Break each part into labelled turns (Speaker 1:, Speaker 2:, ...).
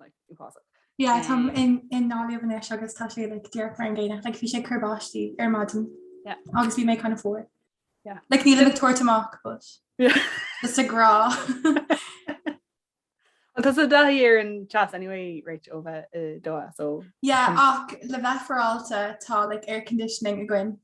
Speaker 1: like impossible. Yeah
Speaker 2: táim i nGaillimh anois agus tá sé like díreach mar an gcéanna like bhí sé cur báistí ar maidin yeah agus bhí mé
Speaker 1: kind of fuar
Speaker 2: yeah like ní le
Speaker 1: tuairt
Speaker 2: amach but yeah
Speaker 1: is a grá Tá tusa i dtaithí ar an teas anyway right ó bheith i Doha so yeah ach
Speaker 2: le bheith féaráilte tá like air conditioning againn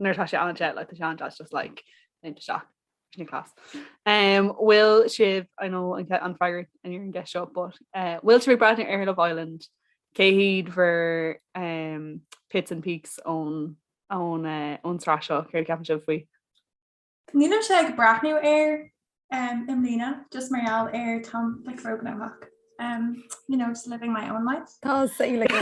Speaker 1: nuair atá sé an-te like tá sé an-te just like léimt isteach class. bhfuil sibh I know an freagra an ar an gceist seo, but eh, bhfuil sibh ag breathnú ar Love Island cé hiad bhur pits and peaks ón ón eh, sraith seo, céard a ceapann sibh faoi?
Speaker 2: Nílimse ag breathnú air i mbliana just mar gheall ar táim like róghnóthach um, you know just living my own life. Tá sé like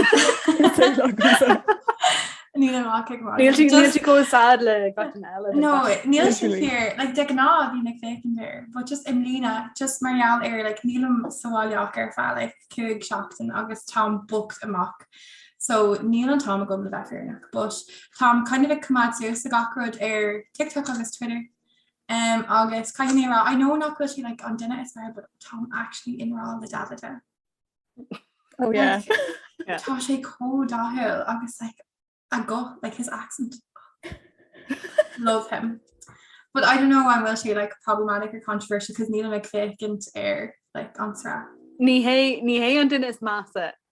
Speaker 2: Nílim
Speaker 3: ach ag magadh.
Speaker 1: Níl sí níl sí chomh sad le gach duine eile. No, níl sé Literally.
Speaker 2: fíor like de ghnáth bím ag féachaint air, but just i mbliana just mar gheall ar like nílim sa bhaile ach ar feadh like cúig seachtain agus táim booked amach So níl an t-am agam le bheith fírinneach but táim kind of ag coimeád suas le gach rud ar TikTok agus Twitter um agus caithfidh mé a rá I know nach bhfuil sé like an duine is fearr but táim actually i ngrá le Davide. Oh
Speaker 3: yeah. Yeah. Tá
Speaker 2: sé chomh dathúil agus like a guth like his accent. Love him. But I don't know an bhfuil sé like problematic or controversial cos nílim ag féachaint ar like an sraith. Ní hé ní
Speaker 1: hé an duine is measa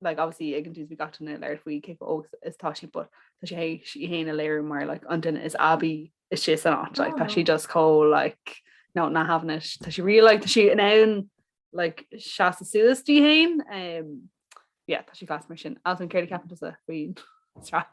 Speaker 1: like obviously ag an dús bhí gach duine ag labhairt faoi cé chomh óg is tá sí but tá sí théis í héin a léiriú mar like an duine is aibí is sé san áit like tá sí just chomh like no not having it tá sí real like tá sí in ann like seasamh suas di héin um, yeah tá sí class mar sin as in céard a ceapann tusa faoin sraith.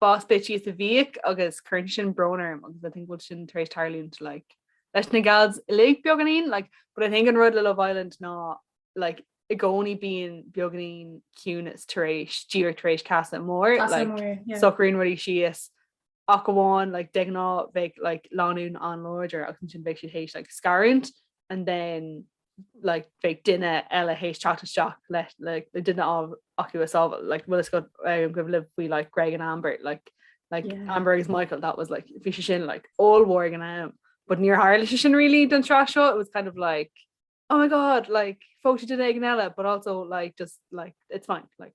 Speaker 1: boss bitchy is a bhíodh agus cuireann sin brón orm agus I think bhfuil sin tar éis tarlúint like leis na gals uilig beagáinín like but I think an rud le Love Island ná like i gcónaí bíonn beagáinín ciúnas tar éis díreach tar éis Casa Amor Casa like Amor, yeah. socraíonn rudaí síos ach amháin like de ghnáth bheidh like lánúin an-láidir agus ansin bheidh siad théis like scarúint and then like bheadh duine eile théis teacht isteach le le duine acu a shábháil like bhfuil fhios agat an cuimhin libh faoi like Greg and Amber like like yeah. Amber agus Michael that was like bhí sé sin like ollmhór ag an am but níor tharla sé sin really don tsraith seo it was kind of like oh my god like phóg tú duine éigin eile but also like just like it's fine like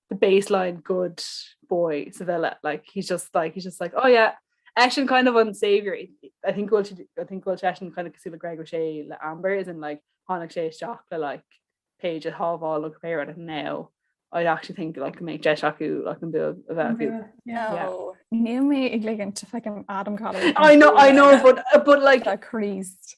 Speaker 1: the baseline good boy sa villa like he's just like he's just like oh yeah eisean kind of an saviour I think bhfuil siad- I think bhfuil eisean kind of cosúil le Greg O'Shea le Amber as in like tháinig sé isteach le like Paige a shábháil go péire and now I actually think like go mbeidh deis acu like an bua a bheith acu. Yeah.
Speaker 3: No. Níl mé ag ligint do fucking Adam Collard I know I know but
Speaker 1: uh, but like Tá Christ.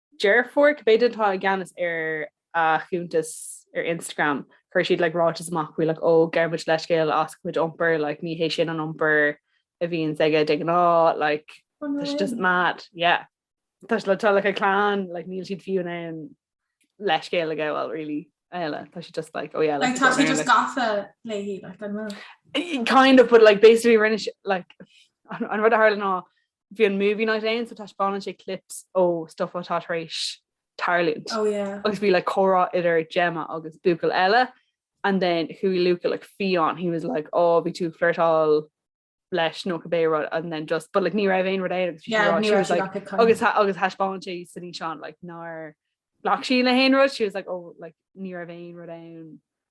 Speaker 1: Deirfiúr cibé duine atá i gceannas ar a chuntas ar Instagram chuir siad like ráiteas amach faoi like ó gabhann muid leithscéal as a chuid iompair like ní hé sin an iompar a bhíonns aige de ghnáth like tá sé just mad yeah tá siad like tá like a clann like níl siad fiú in ann leithscéal a ghabháil really eile tá siad just like ó yeah like tá
Speaker 2: sé just gafa léi like kind of but like
Speaker 1: basically rinne like an rud a tharla ná bhí an movie night ann so taispeánann sé clips ó stuff atá tar éis tarlúint. Oh yeah. Agus
Speaker 2: bhí like
Speaker 1: comhrá idir Gemma agus buachaill eile and then chuaigh Luca like fiáin, he was like oh bhí tú ag flirtáil leis nó cibé rud and then just but like ní raibh aon rud ann agus she was like agus thaispeáin sé san fhíseán like nár bhac sí le haon rud she was like oh like ní raibh aon rud ann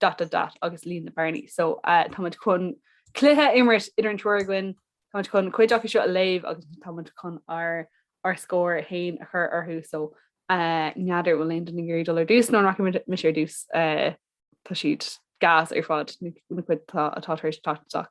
Speaker 1: dot dot dot agus líon na bearnaí. So táimid chun cluiche a imirt idir an triúr againn, táimid chun cuid acu seo a léamh agus táimid chun ár ár scór fhéin a chur orthu so n'fheadar bhfuil aon duine ag iarraidh dul ar dtús nó an rachaidh mise ar dtús tá siad gas ar fad na cuid atá tar éis teacht isteach.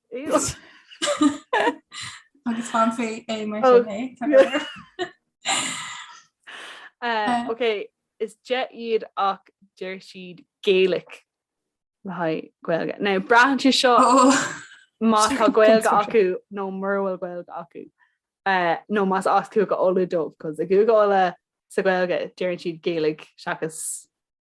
Speaker 2: agus fanfaí é mar
Speaker 1: sin é tá go leor. Eh, ok, is deich iad ach deir siad Gaelic le haghaidh Gaeilge. Now, braitheann sé seo má tá Gaeilge acu nó mura bhfuil Gaeilge acu. Eh, nó más as Cúige Uladh dóibh, cos i gCúige Uladh sa Gaeilge, deireann siad Gaelic seachas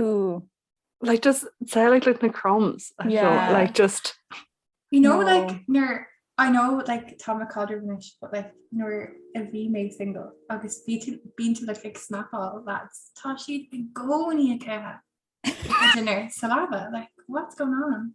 Speaker 3: Ooh. Like
Speaker 1: just say like like na crumbs yeah. feel, like just you know no.
Speaker 2: like near I know like Tom McCalder finish but like nor a V made single agus be to being to like like snap all that's Tashi and go in your care dinner salava like what's going on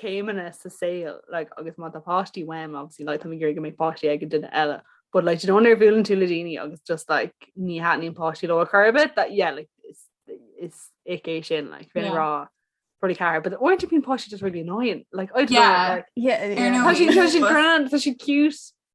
Speaker 1: céimeanna sa saol like agus má tá páistí uaim obviously like táim ag iarraidh go mbeidh páistí ag an duine eile but like do you know nuair a bhuaileann tú le daoine agus just like ní thaitníonn páistí leo ar chor ar bith that yeah like is is ick é sin like bhí mé ag rá probably ceathair but uaireanta bíonn páistí just really annoying like I don't Yeah. know like Yeah, yeah. Tá sin tá sin grand tá sin cute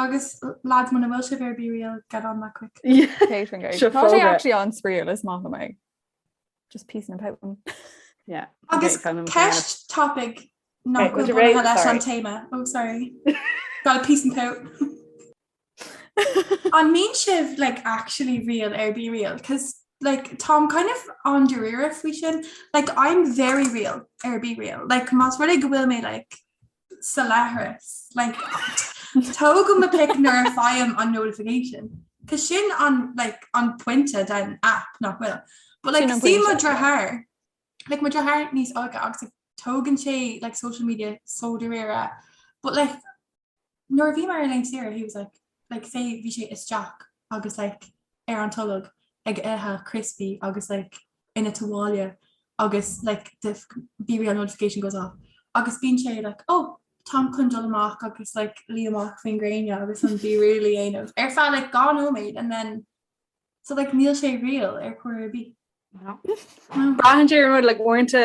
Speaker 2: Agus lads muna bhfuil sibh ar Be Real, get on that
Speaker 1: quick.
Speaker 3: actually an-spraíúil is maith liom é. Just peace and
Speaker 1: pouting. Agus
Speaker 2: ceist topic nach dtéann leis an téama ó oh, sorry. Gotta peace and pout. An mbíonn sibh like actually real ar Be Real, cos like táim kind of an-dáiríre faoi sin, like I'm very real ar Be Real, like más rud é go bhfuil mé like Sa leithreas. Like tógaim mo pic nuair a faighim an notification. Cos sin an like an pointe den app nach bhfuil. But like see mo dheartháir like mo dheartháir níos óige agus like, tógann sé like social media so dáiríre but like nuair a bhíomar ar laethanta saoire he was like like go mbíonn sé isteach agus like ar an tolg ag ithe criospaí agus like ina bhaile agus like the BeReal notification goes off agus bíonn sé like oh táim chun dul amach agus like luí amach faoin gréine agus an BeReal a dhéanamh ar feadh like dhá nóiméad and then so like níl sé real ar chor ar bith.
Speaker 1: Braitheann sé ar an rud like uaireanta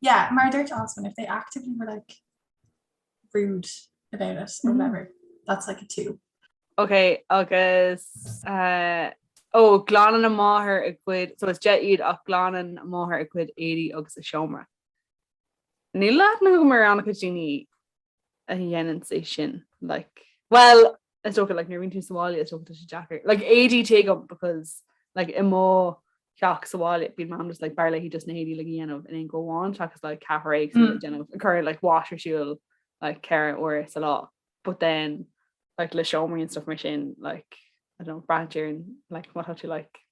Speaker 2: Yeah mar a dúirt Oswin if they actively were like rude about it or whatever that's like a two. Ok
Speaker 1: agus eh, ó glanann a máthair a cuid so is deich iad ach glanann a máthair a gcuid éadaí agus a seomra. Níl a lán mar ana-chuid daoine a dhéanann é sin like Well Is dócha like, nuair bhíonn tú sa bhaile is dócha tá sé deacair. Like, ADHD agam because like, i mo theach sa bhaile bíonn mam just like, b'fhearr léi just na héadaí a dhéanamh in aon go amháin seachas like ceathrar ag mm. déanamh ag cur like, washer ar siúl like, ceithre uair sa lá. But then like, le seomraí and stuff mar sin like, I don't know, braitheann sé ar like, what have you like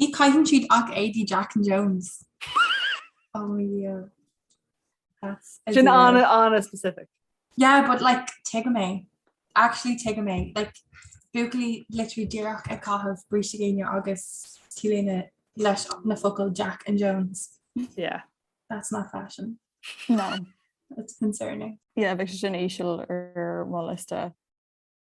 Speaker 1: Ní
Speaker 2: caitheann siad ach éadaí Jack and Jones. Oh yeah. That's a Sin deal.
Speaker 1: ana ana specific. Yeah, but like
Speaker 2: tuigim é. Actually tuigim é. Like buachaillí literally díreach ag caitheamh bríste géine agus t-léine leis na focail Jack and Jones.
Speaker 1: Yeah. That's not
Speaker 2: fashion. No.
Speaker 3: That's
Speaker 2: concerning. Yeah, bheadh sé sin íseal
Speaker 3: ar mo liosta.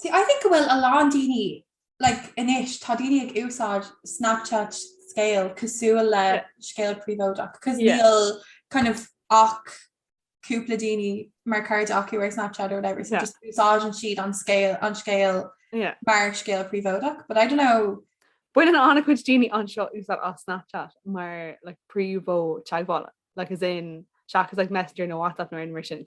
Speaker 2: See I think go bhfuil a lán daoine like anois tá daoine ag úsáid Snapchat scéal cosúil le yeah. scéal príobháideach cos yeah. níl kind of ach cúpla daoine mar cairde acu ar Snapchat or whatever so yeah. just úsáideann siad an scéal an scéal yeah. mar scéal príobháideach but I don't know Baineann
Speaker 1: ana-chuid daoine anseo úsáid as Snapchat mar like príomh-mhodh teagmhála like as in seachas like messenger nó WhatsApp nó rud mar sin.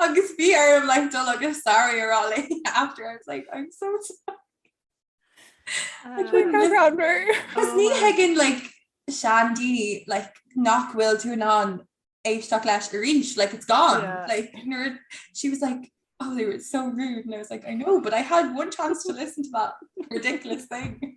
Speaker 2: Agus bhí orm like dul agus sorry a rá léi after I was like I'm so sorry. Agus ní thuigeann like seandaoine like nach bhfuil tú in ann éisteacht leis arís like it's gone yeah. like nuair she was like oh they were so rude and I was like I know but I had one chance to listen to that ridiculous thing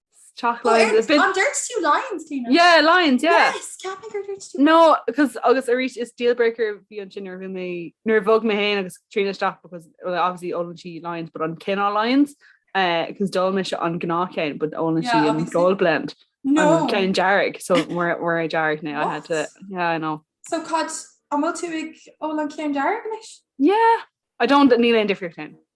Speaker 1: teach Oh, Lyons ar- a bit- an ndúirt tú
Speaker 2: Lions Clíona? Yeah, Lyons,
Speaker 1: yeah. Yes, ceapaim gur
Speaker 2: dúirt tú. No, cos
Speaker 1: agus arís is deal breaker a bhí ansin ar bhí mé nuair bhog mé héin agus Tríona isteach because well, obviously ólann sí Lions but cén cineál Lions because d'ól mise an gnáthcheann but ólann Yeah, sí an obviously. gold blend No. an
Speaker 2: ceann dearg
Speaker 1: so mar mar a dearg na I had to What? yeah I know So cad,
Speaker 2: an bhfuil tú ag ól an ceann dearg anois? yeah
Speaker 1: I don't níl aon difríocht féin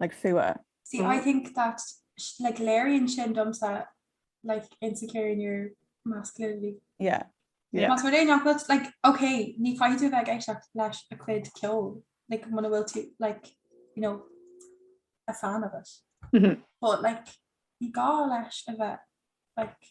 Speaker 3: like fuath. See I
Speaker 2: think that like léiríonn sin domsa like insecure in your masculinity. Yeah yeah.
Speaker 3: Más rud é nach
Speaker 2: bhfuil like ok ní chaithfidh tú a bheith ag éisteacht lena cuid ceoil like muna bhfuil tú like you know a fan of it but like ní gá leis a bheith like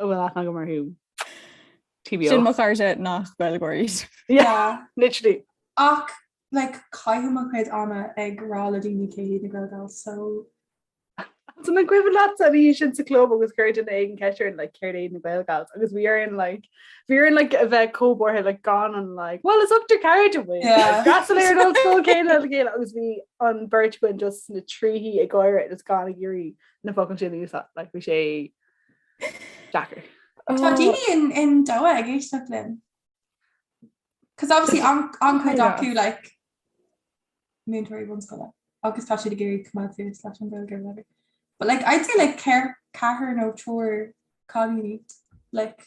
Speaker 1: Ó bhfuil aithne agam orthu. TBO. Sin mo
Speaker 3: chairde nach Gaeilgeoirí.
Speaker 1: Yeah, literally.
Speaker 2: Ach, like, caithim mo chuid ama ag rá le daoine cé hiad na Gaelgals, so.
Speaker 1: An cuimhin leat an lá sin sa club agus chuir duine éigin ceist orm like céard iad na Gaelgals agus bhí orainn like bhí orainn like a bheith cómhartha like gan an like well is up to card a bhfuil Yeah. gasalair an old school céile le chéile agus bhí an beirt againn just sna trithí ag gáire is gan ag iarraidh na focail sin a úsáid like bhí sé
Speaker 2: Deacair. Tá daoine in Doha ag éisteacht linn. 'Cause obviously an chuid acu like múinteoirí bunscoile agus tá siad ag iarraidh coimeád suas leis an Gaeilge whatever. But like I'd say like ceathrar nó triúr cailíní like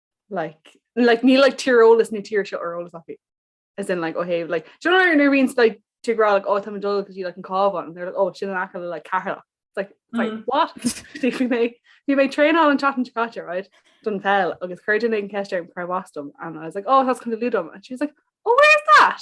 Speaker 1: Like, like, níl like, tíreolas na tíre seo ar eolas acu. As in, like, ó thaobh, like, do you know nuair a bhíonns, like, tú ag rá, like, ó, tá mé ag dul go dtí, like, an Cabhán, and they're like, ó, sin in aice le, like, Ceatharlach. It's like, it's like, Mm. what? Bhí bhí mé, bhí mé ag traenáil an tseachtain seo caite, right? Don pheil, agus chuir duine éigin ceist orm cárb as dom, and I was like, oh, as Contae Lú dom. And she was like, oh, where's that?